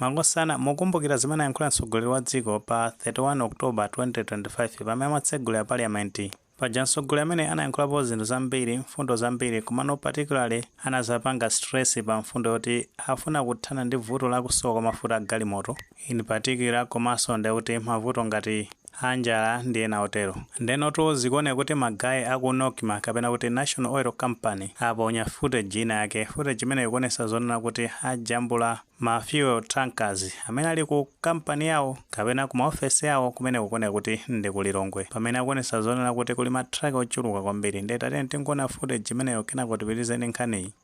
Makosana, mukukumbukira zimene anayankhula mtsogoleri wa dziko pa 31 October 2025 pamene amatsegulira parliament? Paja mtsogoleri ameneyi anayankhulapo zinthu zambiri, mfundo zambiri komano particularly anadzapanga stress pa mfundo yoti afuna kuthana ndi vuto la kusowa kwa mafuta a galimoto in particular komaso ndekuti mavuto ngati a njala ndi ena otero. Ndenotu zikuoneka kuti ma guy a ku Nocma kapena kuti National Oil Company aponya footage ina yake. Footage imeneyo ikuonesa zonena kuti ajambula ma fuel tankers amene ali ku company yawo kapena ku ma ofesi awo kumene kukuoneka kuti ndi ku Lilongwe. Pamene akuonesa zonena kuti kuli ma truck ochuluka kwambiri. Ndiye tatiyeni tingoonera footage imeneyo kenako tipitirize ndi nkhaniyi.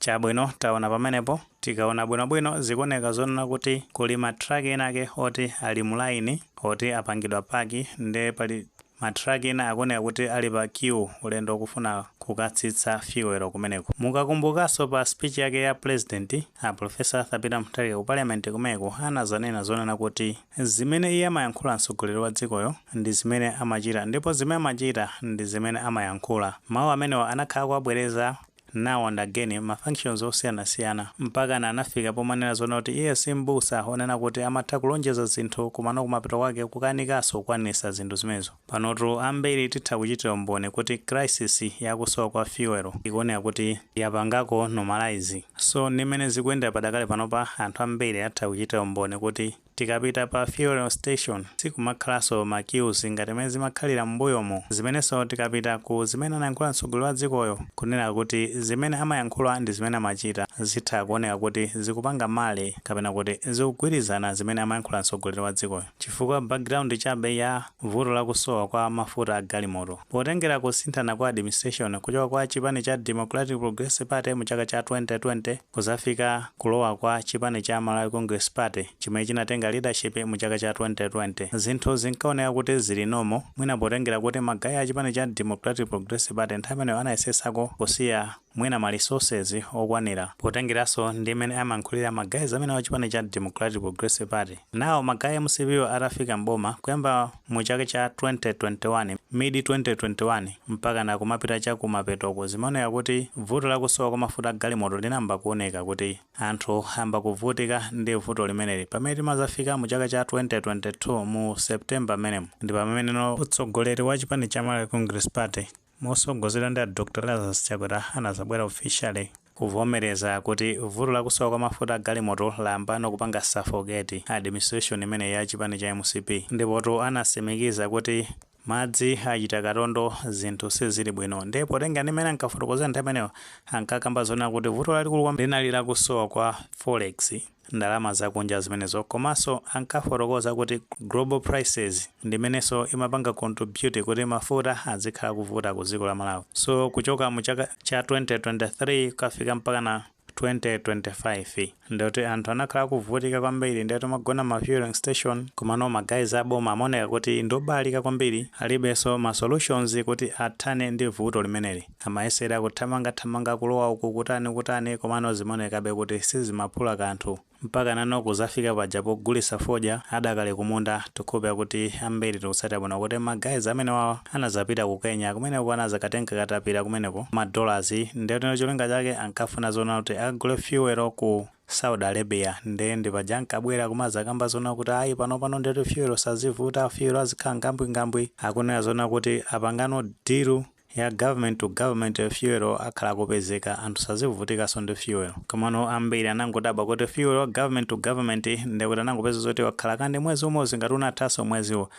Chabwino, taona pamenepo, tikaona bwinobwino, zikuoneka zonena kuti kuli ma truck enaake oti ali mu line, oti apangidwa park, nde pali ma truck ena akuoneka kuti ali pa queue, ulendo okufuna kukatsitsa fuel kumeneko. Mukakumbukanso pa speech yake ya president, a Prof. Arthur Peter Mutharika ku parliament kumeneko anazanena zonena kuti zimene iye amayankhula mtsogoleri wa dzikoyo ndi zimene amachita ndipo zimene amachita ndi zimene amayankhula. Mau amenewa anakhala akuwabwereza Now and again ma functions osiyanasiyana mpakana anafika pomanena zonena kuti iye si m'busa onena kuti amatha kulonjeza zinthu komano kumapeto kwake kukanikaso kukwanisa zinthu zimenezo. Panotu ambiri titha kuchitira umboni kuti crisis ya kusowa kwa fuel ikuoneka kuti yapangako normalise. So ndi mmene zikuyendera padakali panopa anthu ambiri atha kuchitira umboni kuti. Tikapita pa fuel station sikumakhalaso ma queues ngati mmene zimakhalira mmbuyomu, zimeneso tikapita ku zimene anayankhula mtsogoleri wa dzikoyo kunena kuti zimene amayankhula ndi zimene amachita zitha kuoneka kuti zikupanga marry kapena kuti zikugwirizana zimene amayankhula mtsogoleri wa dzikoyo chifukwa background chabe ya vuto la kusowa kwa mafuta a galimoto potengera kusinthana kwa administration kuchoka kwa chipani cha Democratic Progressive Party mu chaka cha 2020 kuzafika kulowa kwa chipani cha Malawi Congress Party chimene chinatenga leadership mu chaka cha 2020, zinthu zinkaoneka kuti zili normal, mwina potengera kuti ma guy a chipani cha Democratic Progressive Party nthawi imeneyo anayesesako kusiya mwina ma resources okwanira potengeraso ndi mmene amayankhulira ma guys amenewo a chipani cha Democratic Progressive Party. Now ma guy a mcp wo atafika m'boma, kuyamba Mu chaka cha 2021, mid 2021, mpakana kumapita cha ku mapetoku zimaoneka kuti vuto la kusowa kwa mafuta a galimoto linayamba kuoneka kuti anthu ayamba kuvutika ndi vuto limeneli. Pamene timazafika mu chaka cha 2022 mu September mmenemu ndi pameneno utsogoleri wa chipani cha Malawi Congress Party, mosogozedwa ndi a Dr Lazarus Chakwera anazabwera officially kuvomereza kuti vuto la kusowa kwa mafuta a galimoto layambano kupanga suffocate administration imeneyi ya chipani cha mcp ndipotu anasimikiza kuti madzi achita katondo zinthu sizili bwino ndiye potengera ndi mmene ankafotokozera nthawi imeneyo ankakamba zonena kuti vuto lalikulu kwambiri linali la kusowa kwa forex ndalama zakunja zimenezo komanso ankafotokoza kuti global prices ndimenenso imapanga contribute kuti mafuta adzikhala akuvuta ku dziko la Malawi so kuchoka mu chaka cha 2023 kukafika mpaka 2025 ndikuti anthu anakhala akuvutika kwambiri ndikuti amagona m'ma fueling station komano ma guys a boma amaoneka kuti ndiobalalika kwambiri alibenso ma solutions kuti athane ndi vuto limeneli. Amayesera kuthamanga thamanga kulowa uku kutani kutani komano zimaonekabe kuti sizimaphula kanthu. Mpakana anazafika paja pogulitsa fodya adakali kumunda tikukhulupira kuti ambiri tikutsatira bwino kuti ma guys amenewawa anazapita ku Kenya kumeneko anazakatenga katapira kumeneko ma dollars ndeno cholinga chake ankafuna zoona kuti akagule fuel ku Saudi Arabia nde ndipaja ankabwera kumazakamba zoona kuti ayi panopano ndithu fuel sazivuta fuel azikhala ngambwi ngambwi akunena zoona kuti apangano deal ya government to government fuel akhala akupezeka anthu sazivutikanso ndi fuel komano ambiri anangodabwa kuti fuel wa government to government ndekuti unangopeza zoti wakhala kandi mwezi umozi ngati unathanso mweziwo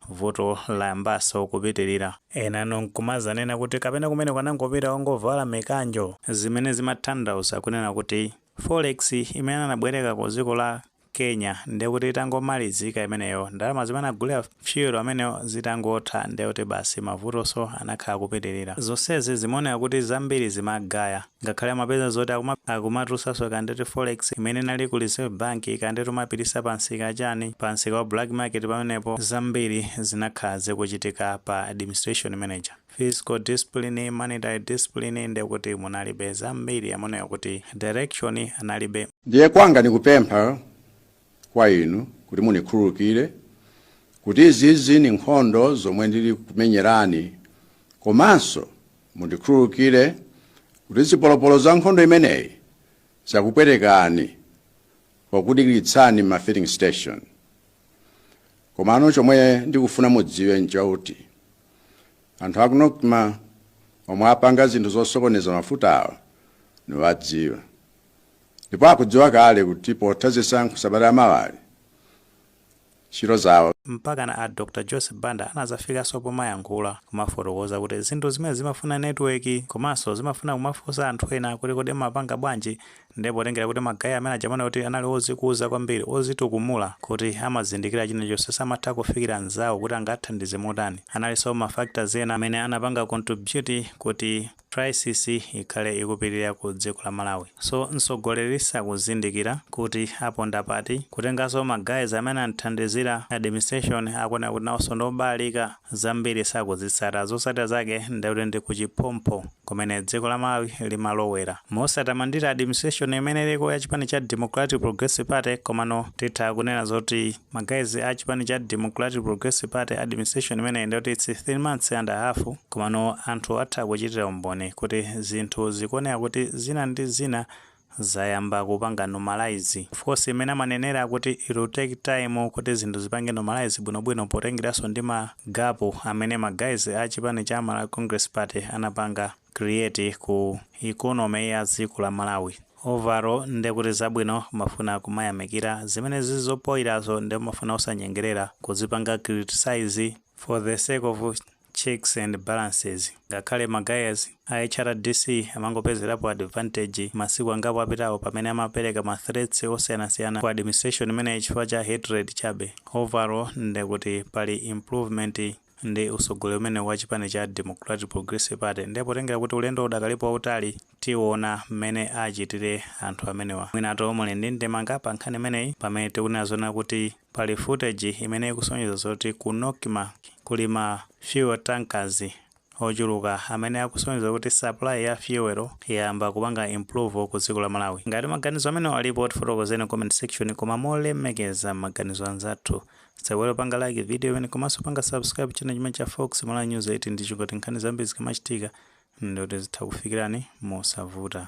vuto layambanso kupitilira enano nkumazanena kuti kapena kumeneko anangopita ungovala mikanjo zimene zimathandauza kunena kuti forex imene anabwereka ku dziko la Kenya ndiye kuti itangomalizika imeneyo, ndalama zimene anagulira fuel ameneyo zitangotha ndiye kuti basi mavutonso anakhala akupitirira. Zonsezi zimaoneka kuti zambiri zimagaya. Ngakhale amapeza zoti akumatulusanso kaya nditi forex imene inali ku Reserve Bank, kaya nditi kumapititsa pamsika wachani, pamsika wa black market pamenepo, zambiri zinakhala zikuchitika pa administration imene ija. Fiscal discipline, monetary discipline ndiye kuti munalibe. Zambiri amaoneka kuti direction analibe. Ndiye kwanga nikupempha kwa inu kuti mundikhululukire kuti izizi ni nkhondo zomwe ndili kumenyerani komanso mundikhululukire kuti zipolopolo za nkhondo imeneyi zakupwetekani pokudikilitsani m'ma filling station. Komano chomwe ndikufuna mudziwe nchakuti anthu aku Nocma omwe apanga zinthu zosokoneza mafutawa niwadziwa. ndipo akudziwa kale kuti potha zisankho sabata yamawayi ntchito zawo mpakana a Dr Joyce Banda anazafikanso pomayankhula kumafotokoza kuti zinthu zimenezi zimafuna network komanso zimafuna kumafunsa anthu ena kuti kodi amapanga bwanji nde potengera kuti ma guys amene aja kuti anali ozikuza kwambiri ozitukumula kuti amazindikira chinachonse samatha kufikira nzawo kuti angathandize motani analiponso ma factors ena amene anapanga contribute kuti Crisis ikhale ikupitilira ku dziko la Malawi so mtsogoleri sakuzindikira kuti aponda pati, kutengaso ma guys amene amthandizira administration akuoneka kuti nawoso ndi obalalika zambiri sakuzitsata zotsatira zake nde kuti ndi ku chiphompho kumene dziko la Malawi limalowera. Mosatamandira administration imene iliko ya chipani cha Democratic Progressive Party komano titha kunena zoti. Ma guys a chipani cha Democratic Progressive Party administration imeneyi ndiyoti it's 3 months and a half komano anthu atha kuchitira umboni kuti zinthu zikuoneka kuti zina ndi zina zayamba kupanga normalize. Of course mmene amanenera kuti it will take time kuti zinthu zipange normalize bwinobwino potengeraso ndi ma gap amene ma guys a chipani cha Malawi Congress Party anapanga. create ku economy ya dziko la Malawi. Overall nde kuti zabwino umafuna kumayamikira, zimene zili zopoirazo nde umafuna osanyengerera kuzipanga criticise for the sake of checks and balances. Ngakhale ma guys a hrdc amangopezerapo advantage masiku angapo apitawo pamene amapereka ma threats osiyanasiyana ku administration imeneyi chifukwa cha hatred chabe. Overall nde kuti pali improvement. ndi usogoleri umenewu wa chipani cha Democratic Progressive Party nde potengera kuti ulendo udakalipo wautali tiona mmene achitire anthu amenewa. Mwinatu muli ndi ndemanga pa nkhani imeneyi pamene tikunena zonena kuti pali footage imene ikusonyeza zoti ku Nocma kuli ma fuel tankers ochuluka amene akusonyeza kuti supply ya fuel yayamba kupanga improve ku dziko la Malawi. Ngati maganizo amenewa alipo tifotokozeni comment section koma molemekeza maganizo anzathu Osaiwala kupanga like video imeneyi komanso panga subscribe channel chimenechi cha Fox Malawi News TV ndi cholinga choti nkhani zambiri zikamachitika ndoti zitha kukufikirani mosavuta.